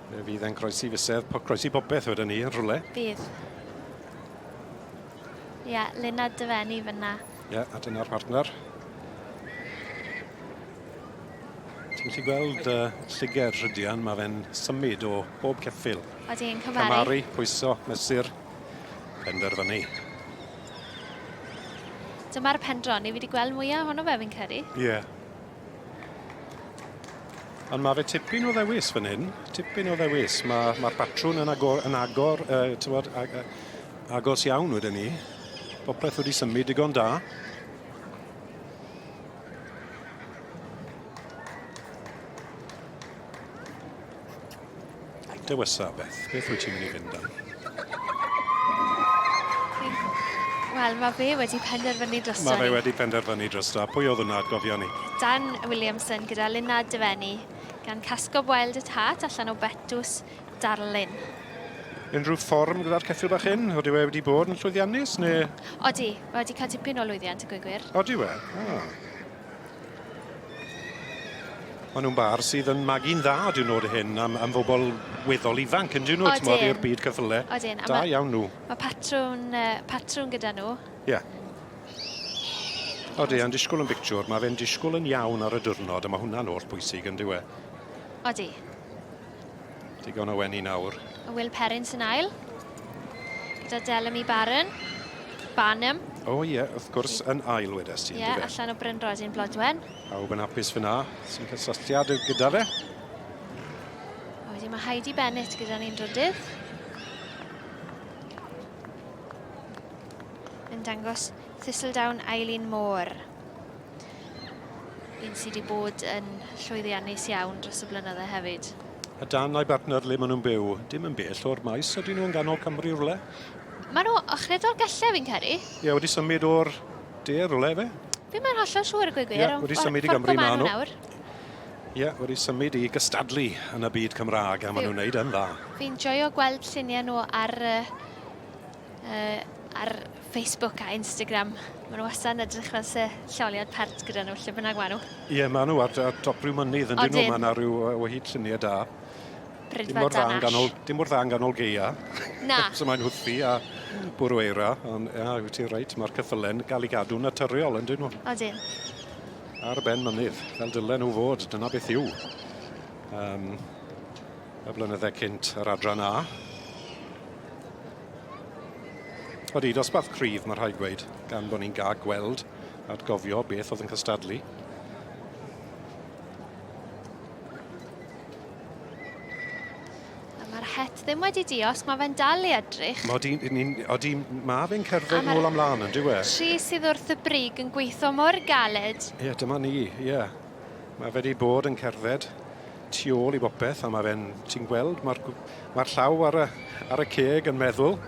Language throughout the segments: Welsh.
Fe fydd e'n croesi fysedd, po, croesi bobeth wedyn ni yn rhywle. Bydd. Ie, yeah, Luna Dyfenni fyna. Ie, yeah, a dyna'r partner. Ti'n gallu gweld uh, lluger rhydian, mae fe'n symud o bob ceffil. Oeddi yn cymaru. Cymaru, pwyso, mesur, penderfynu. Dyma'r pendron, ni wedi gweld mwyaf ohono fe fi'n credu. Ie. Yeah. Ond mae fe tipyn o ddewis fan hyn, tipyn o ddewis. Mae'r ma patrwn yn agor, yn agor uh, tywod, ag, uh, agos iawn wedyn ni. Popeth wedi symud digon da. Dewisa, Beth, beth wyt ti'n mynd i fynd am? Wel, mae fe wedi penderfynu drosto ni. Mae fe wedi penderfynu drosto. Pwy oedd hwnna, gofio ni? Dan Williamson gyda Lina Dyfenni, gan Casgo Wild at Heart allan o Betws Darlun. Unrhyw fform gyda'r ceffil bach hyn? Oeddi e wedi bod yn llwyddiannus, neu...? Odi, mae wedi cael tipyn o lwyddiant, y gwy'n gwir. Odi we? Ah. Maen nhw'n bar sydd yn magu'n dda, dyn nhw'r hyn, am, am fobl weddol ifanc, yn dyn nhw, ti'n modd i'r byd cyffyle. Odyn. Da ma, iawn nhw. Mae patrwn, uh, patrwn gyda nhw. Ie. Yeah. Odi, yn disgwyl yn bictiwr, mae fe'n disgwyl yn iawn ar y diwrnod, a mae hwnna'n holl bwysig yn diwe. Odi. Digon o weni nawr. A Will Perrin sy'n ail. Gyda Delamy Barron. Barnum. O oh, ie, yeah, wrth gwrs, yn ail wedes ti. Ie, yeah, allan o Bryn Rosin Blodwen. A wb yn apus fyna, sy'n cysylltiad gyda fe. A wedyn mae Heidi Bennett gyda'n un drydydd. Yn dangos Thistledown Eileen Moore. Un sydd wedi bod yn llwyddiannus iawn dros y blynydde hefyd. A dan a'i bartner le maen nhw'n byw, dim yn bell o'r maes, ydyn nhw yn ganol Cymru rhywle? Maen nhw ochredd o'r gelle fi'n credu. Ie, wedi symud o'r de rhywle fe? Fi'n mynd hollol siŵr y gwe gwir. Ie, wedi symud i Gymru maen nhw. Ie, wedi symud i gystadlu yn y byd Cymraeg a maen nhw'n neud yn dda. Fi'n joio gweld lluniau nhw ar Uh, ar Facebook a Instagram. Mae nhw wastad yn edrych fel se lloliad pert gyda nhw, lle bynnag maen nhw. Ie, yeah, maen nhw ar, ar top rhyw mynydd, yn dyn nhw, maen nhw rhyw o hyd lluniau da. Bryd mae dan ash. Dim mor dda yn ganol geia. Na. so mae'n hwthu a bwrw eira, ond ia, wyt ti'n reit, mae'r cyffylen gael ei gadw'n naturiol, yn dyn nhw. Odyn. Ar ben mynydd, fel dylen nhw fod, dyna beth yw. Um, y blynyddau cynt yr adran A. Odi, dosbarth cryf, mae rhaid gweud, gan bod ni'n gael gweld at gofio beth oedd yn cystadlu. Mae'r het ddim wedi diosg, mae fe'n dal i edrych. Mae di, ni, odi, mae fe'n cerdded nôl amlaen yn diwe. Tri sydd wrth y brig yn gweithio mor galed. Ie, yeah, dyma ni, ie. Yeah. Mae fe 'di bod yn cerdded tu ôl i bopeth a mae fe'n... ti'n gweld, mae'r mae llaw ar y, ar y ceg yn meddwl,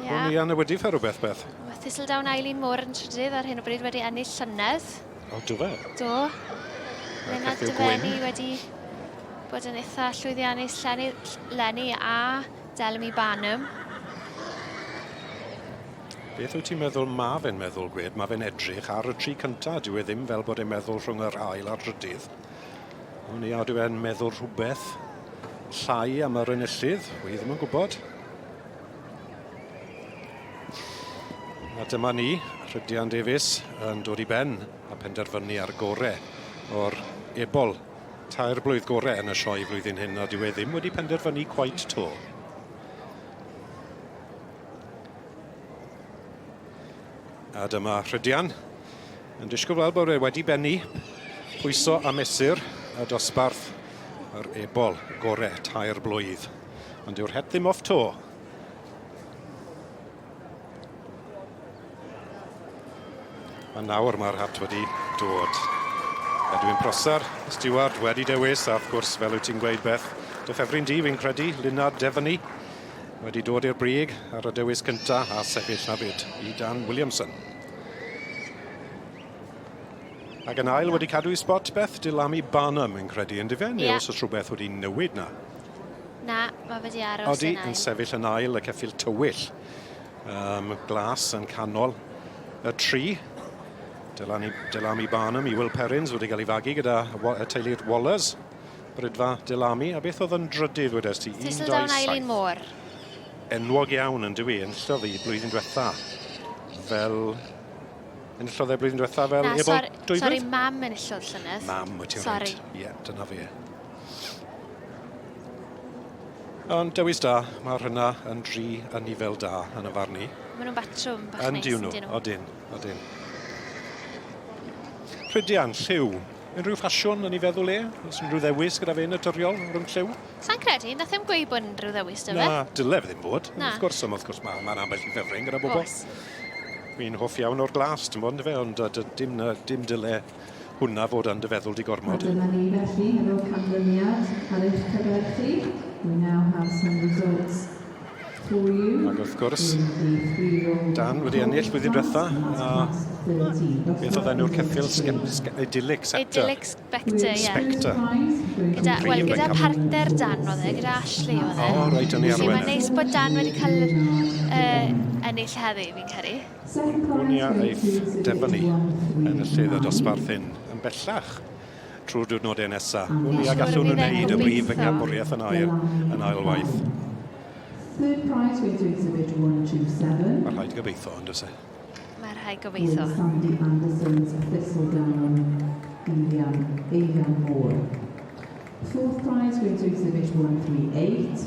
yeah. o'n i yn y wedi fe rhywbeth beth. Mae Thistledown Eileen Moore yn trydydd ar hyn o bryd wedi ennill llynedd. O, do fe? Do. Lena Dyfenni wedi bod yn eitha llwyddiannus Lenny, Lenny a Delmy Barnum. Beth wyt ti'n meddwl ma fe'n meddwl, Gwed? Ma fe'n edrych ar y tri cynta, dyw e ddim fel bod e'n meddwl rhwng yr ail a'r drydydd. O ni a dyw e'n meddwl rhywbeth llai am yr enillydd, wy ddim yn gwybod. A dyma ni, Rhydian Davies yn dod i ben a penderfynu ar gore o'r ebol. Tair blwydd gore yn y sioe flwyddyn hyn a dyw e ddim wedi penderfynu cwait to. A dyma Rhydian yn disgwyl weld bod e wedi bennu pwyso a mesur y dosbarth yr ebol gore tair blwydd. Ond yw'r het ddim off to. A nawr mae'r hat wedi dod. Edwin Prosser, Stewart wedi dewis, a wrth gwrs, fel wyt ti'n gweud beth, dy ffefryn di, fi'n credu, Lunard Devony, wedi dod i'r brig ar y dewis cyntaf a sefyll na fyd i Dan Williamson. Ac yn ail wedi cadw i spot Beth Dilami Barnum yn credu yn difen, yeah. os oes rhywbeth wedi newid na. Na, mae wedi aros Odi, yn ail. Odi yn sefyll yn ail y ceffil tywyll. Um, glas yn canol y tri. Delami, Delami Barnum i Will Perrins wedi cael ei fagu gyda y teulu'r Wallers. Rydfa, Dylami, a beth oedd yn drydydd wedes ti? Thistledown Eileen Moore. Enwog iawn yn dywi, enllodd i blwyddyn diwetha fel... Enllodd e blwyddyn diwetha fel Na, ebol dwybryd? Sorry, mam enllodd llynedd. Mam, wyt ti'n rhaid. Ie, yeah, dyna fi. Ond dewis da, mae rhywna yn dri yn ni fel da yn y farn i. Mae nhw'n batrwm bach neis, ydyn nhw? Odyn, odyn. Rhydian, lliw, Unrhyw ffasiwn yn ei feddwl e? Oes unrhyw ddewis gyda fe naturiol rhwng lliw? Sa'n credu, nath e'm gweud bod unrhyw ddewis da fe. Na, dyle fe ddim fod. Na. Wrth gwrs, ond wrth gwrs ma' ma'n ambell i ffefryn gyda bobl. Oes. Fi'n hoff iawn o'r glas, ti'n bod, yndyfe, ond yy dy- dim yy dim dyle hwnna fod yn dy feddwl di gormod. A dyma ni felly hefo canlyniad ar eich cyfer chi i Now Have Some Results. Ac wrth gwrs, Dan wedi ennill flwyddyn diwetha, a beth oedd enw'r ceffil? Idyllic Scepter. Idyllic Spectre, ie. Spectre. Gyda, wel, gyda partner Dan oedd e, gyda Ashley oedd e. O, reit, o'n i arwen. Felly mae'n neis bod Dan wedi cael uh, ennill heddi, fi'n credu. Gwnia eith Devon ni yn y lle ddod o Sbarth hyn yn bellach. trwy'r diwrnodau nesaf. Wn i a gallwn nhw wneud y brif fengabwriaeth yn air yn ail waith. Mae rhaid gobeithio, yn does e? Mae rhaid gobeithio. Sandy Anderson's Thistledown yn fuan, eiliad mor. Fourth prize went to exhibit 138,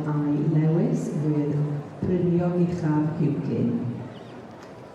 WALI Lewis, Brynio Uchaf Hugin.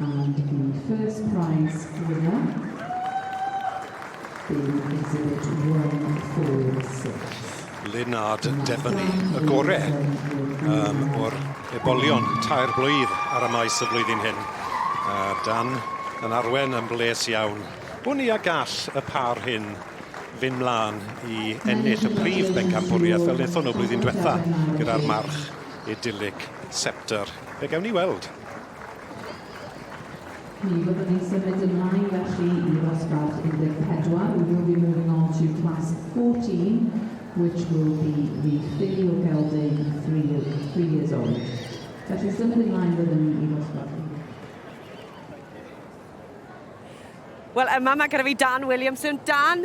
And the first prize winner in exhibit 146. Lennard Devaney, y gore um, o'r ebolion tair blwydd ar y maes y flwyddyn hyn. A Dan yn arwen yn bles iawn. Bwn i a gall y par hyn fynd mlaen i ennill y prif bencampwriaeth fel wnaethon nhw blwyddyn diwetha gyda'r march idylig Scepter. Fe gewn ni weld. Mi fyddwn ni'n symud ymlaen felly i ddosbarth 14, we will be moving on to class 14, which will be the Ffili o Geltdei i three three years old. Felly symud ymlaen fydden ni i ddosbarth Wel yma mae gyda fi Dan Williamson. Dan,